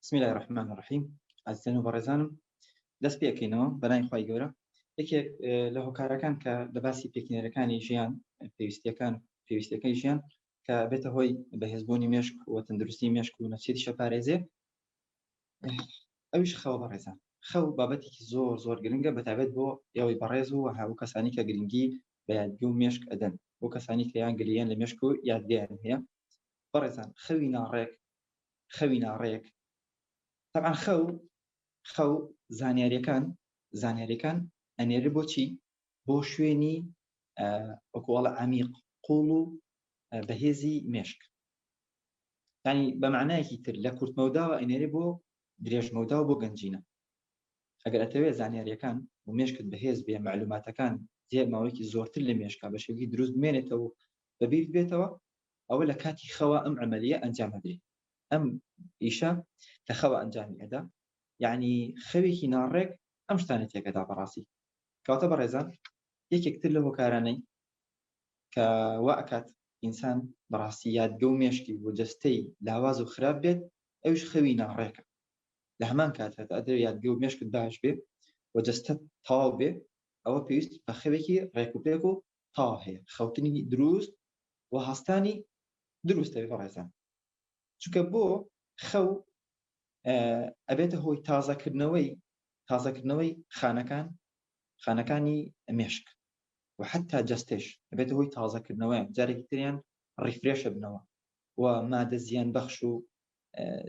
بسم الله الرحمن الرحیم ئازیزان و بەڕێزانم دەست پێکەینەوە بەنای خی گەورە یەکێک لە هۆکارەکان کە لە باسی پێکینەرەکانی ژیان پێویستیەکان پێویستەکەی ژیان کە بێتە هۆی بەهێزبوونی مێشک و تەندروستی مێشک و نەچێتی شەپارێزێ ئەوش خەوە بەڕێزان خەو بابەتێکی زۆر زۆر گرنگە بەتابێت بۆ ئێوەی بەڕێز و هاو کەسانی کە گرنگی بە یادگی و مێشک ئەدەن بۆ کەسانی کەیان گلیان لە مێشک و یادگەیان هەیە بەڕێزان خەوی ناڕێک خەوی ناڕێک تەبعەن خەو خەو زانیاریەکان زانیاریەکان ئەنێرە بۆچی بۆ شوێنی ئۆکۆڵە عمیق قوڵ و بەهێزی مێشک ینی بە معنایەکی تر لە کورتمەوداوە ئەنێری بۆ درێژمەودا و بۆ گەنجینە ئەگەر ئەتەوێت زانیاریەکان و مێشکت بەهێز بێ معلوماتەکان زێ ماوەیەکی زۆرتر لە مێشکا بە شێوی دروست بمێنێتەوە بەبییر بێتەوە ئەوە لە کاتی خەوا ئەم عملیە ئەنجام ئەدرێ ئەم ئیشە لە خەوا ئەنجامی ئەدا یعنی خەوێکی ناڕێک ئەم شتانە تێکەدا بەڕاستی کەواتە بەڕێزان یەکێکتر لە هۆکارانەی کە وا ئەکات ئینسان بەڕاستی یادگە و مێشکی و جەستەی لاواز و خراپ بێت ئەوش خەوی ناڕێکە لە هەمان کات هەتا ئەدر یادگە و مێشکت باش بێ و جەستە تاو بێ ئەوە پێویست بە خەوێکی ڕێکوپێک و تا هەیە خەوتنی دروست و هەستانی دروستە بەڕێزان چونکە بۆ خەو ئەبێتە هۆی تازەکردنەوەی تازەکردنەوەی خانەکان خانەکانی مێشک و حتا جستێش ئەبێتە هۆی تازەکردنەوەیان جارێکی تریان ڕیفرێشە بنەوە و مادە زیان بەخش و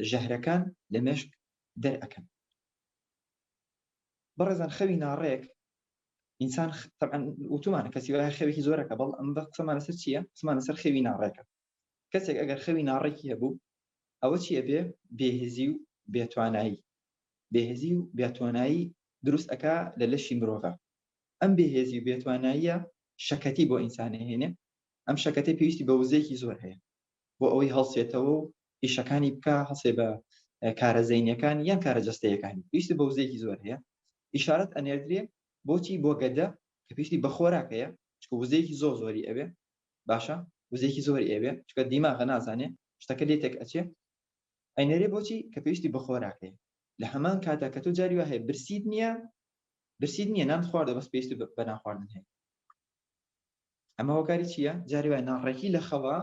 ژەهرەکان لە مێشک دەرەکەن بەڕێزان خەوی ناڕێک ئینسان تەبعەن وتومانە کەسی وایە خەوێکی زۆرەکە بەڵ ئەم بە قسەمان لەسەر چییە قسمان لەسەر خەوی ناڕێکە کەسێک ئەگەر خەوی ناڕێکی هەبوو ئەوە چی ئەبێ بێهزی و بێتوانایی بێهزی و بێتوانایی دروست ئەکا لە لەشی مرۆڤە ئەم بێهێزی و بێتواناییە شەکەتی بۆ ئینسانە هێنێ ئەم شەکەتی پێویستی بە وزەیەکی زۆر هەیە بۆ ئەوەی هەڵسێتەوە و ئیشەکانی بکە هەسێ بە کارە زەینەکان یان کارە جەستەیەکانی پێویستی بە وزەیەکی زۆر هەیە ئیشارەت ئەنێردرێ بۆچی بۆ گەدە کە پێویستی بە خۆراکەیە چکە وزەیەکی زۆر زۆری ئەوێ باشە وزێکی زۆری ئەوێ چکە دیماغە نازانێ شتەکە لێ تێک ئەچێ ئەینەرێ بۆچی کە پێویستی بە خۆراکەیە لە هەمان کاتا کە تۆ جاری وهەیە برسید نییە برسید نییە نان خواردە بەس پێویستی بە ناخواردن هەیە ئەمە هۆکاری چیە؟ جاری وایە ناڕێکی لە خەوا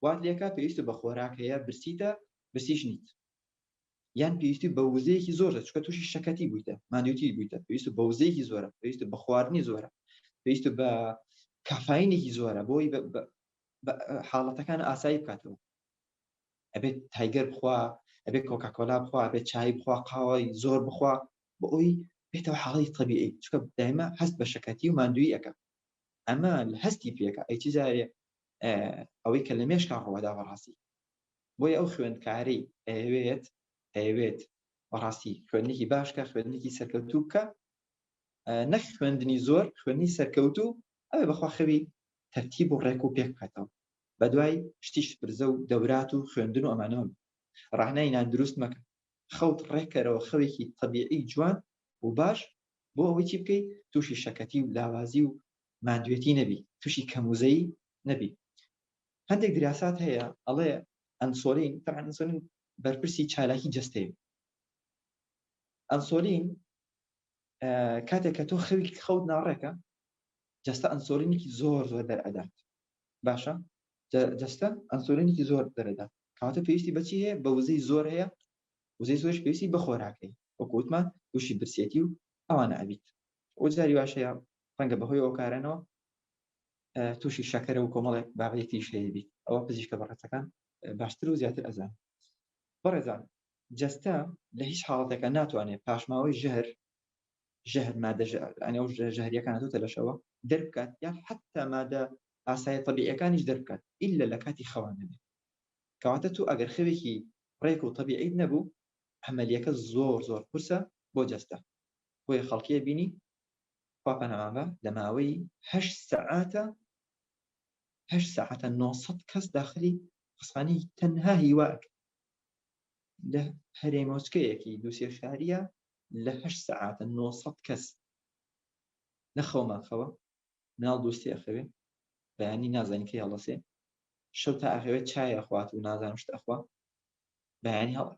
وات لێکا پێویستە بە خۆراک هەیە برسیتە برسیش نیت یان پێویستی بە وزەیەکی زۆرە چکە تووشی شەکەتی بوویتە مادوتی بوویتە پێویست بە وزەیەکی زۆرە پێویست بە خواردنی زۆرە پێویست بە کافاینێکی زۆرە بۆی حاڵەتەکان ئاسایی بکاتەوە ئەبێت تایگەر بخوا ئەبێت کۆکاکۆلا بخوا بێت چای بخوا قاوەی زۆر بخوا بۆ ئەوی بێتەوە حاڵی تەبیعی چکە دایمە هەست بە شەکەتی و ماندووی ئەەکە ئەمە هەستی پێەکە ئەی چی جارێ ئەوەی کە لە مێشکا ڕەوەدا بەڕاستی بۆی ئەو خوێندکاری ئەوێت ئەوێت بەڕاستی خوێندنێکی باشکە خوێندنێکی سەرکەوتوو بکە نەک خوێندنی زۆر خوێنی سەرکەوتوو ئەوێ بەخوا خەوی تەرتیب و ڕێک و پێک بکاتەوە بە دوای شتیش برزە و دەورات و خوێندن و ئەمانەوە ڕانای نان دروست مەکە خەوت ڕێکەرەوە خەوێکی تەبیعی جوان و باش بۆ ئەوەی چی بکەی تووشی شەکەتی و لاوازی و ماندوێتی نەبی تووشی کەموزەی نەبی هەندێک دراسات هەیە ئەڵێ ئەنسۆلین تەعن ئەنسۆلین بەرپرسی چالاکی جەستەی ئەنسۆلین کاتێک کە تۆ خەوی خەوت ناڕێکە جەستە ئەنسۆلینێکی زۆر زۆر دەرئەدات باشە جە جەستە ئەنسۆلینێکی زۆر دەرەدا کەواتە پێویستی بەچی هەیە بە وزەی زۆر هەیە وزەی زۆرش پێویستی بە خۆراکەی وەکو وتمان تووشی برسێتی و ئەوانە ئەبیت و جاری واش هەیە ڕەنگە بەهۆی ئەو کارانەوە تووشی شەکەرە و کۆمەڵێک بابەتێکیش هەیە بیت ئەوە پزیشکە بەڕێزەکان باشتر و زیاتر ئەزان بەڕێزان جەستە لە هیچ حاڵەتێکە ناتوانێت پاشماوەی ژەهر ژەهر مادە ژەهریەکان هاتوتە لەشەوە دەربکات یان حتا مادە ئاسایە طبیعەکانیش دەربکات ئللا لە کاتی خەوان نەبێت کەواتە تو ئەگەر خەوێکی ڕێک و طبیعیت نەبوو عملیەکە زۆر زۆر قورسە بۆ جەستە بۆیە خەڵکیە بینی خوا پەنامان بە لە ماوەی هەشت سەعاتە هەشت سەعاتە 900 کەس داخلی خسخانی تەنها هیواک لە هەرێمۆچکەیەکی دووسێ شاریە لە هەشت سەعاتە نۆ سەد کەس لە خەومان خەوە مناڵ دوستی ئەخەوێ بەیانی نازانی کەی هەڵەسێ شەو تا ئەخەوێت چای ئەخوات و نازانم شت ئەخوا بەیانی هەڵە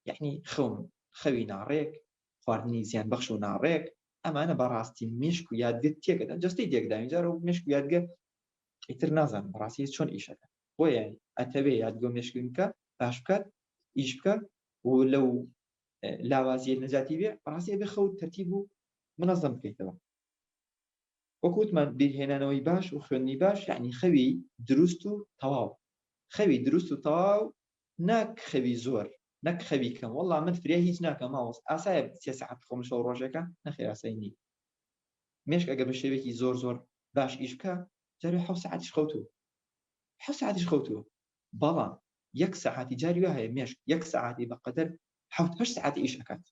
یعنی خەون خەوی ناڕێک خواردنی زیان بەخش و ناڕێک ئەمانە بەڕاستی مشک و یادگە تێکەدا جستی تێکداوی جارە و مشک و یادگە ئیتر نازان بەڕاستی چۆن ئیشەکە بۆیە ئەتەوێ یادگۆ مشکینکە باش بکات ئیش بکە و لەو لاوازیە نەجاتی بێ بەڕاستی ئەبێ خەوت تەرتیب و منەزەم بکەیتەوە وەکو وتمان بیرهێنانەوەی باش و خوێندنی باش یعنی خەوی دروست و تەواو خەوی دروست و تەواو نەک خەوی زۆر نەک خەوی کەم وەڵا من فریا هیچ ناکەم ماوەس ئاسایە سێ سەعات خۆم شەو ڕۆژەکە نەخێر ئاسایی نی مێشک ئەگە بە شێوێکی زۆر زۆر باش ئیش بکە جارێ حەوت سەعاتیش خەوتوو حەوت سەعاتیش خەوتووە بەڵام یەک سەعاتی جاری وا هەیە مێشک یەک سەعاتی بەقەدەر حەوت هەشت سەعات ئیش ئەکات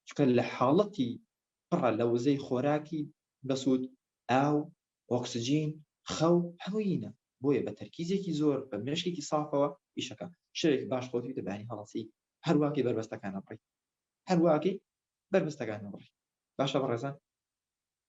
چونکە لە حاڵەتی پڕە لە وزەی خۆراکی بەسوود ئاو ئۆکسجین خەو هەموویینە بۆیە بە تەرکیزێکی زۆر بە مێشکێکی سافەوە ئیش ئەکا شەوێک باش خۆت بیتە بەیانی هەڵەسی هەرواکەی بەربەستەکانە بڕی هەرواکەی بەربەستەکانە بڕی باشە بەڕێزان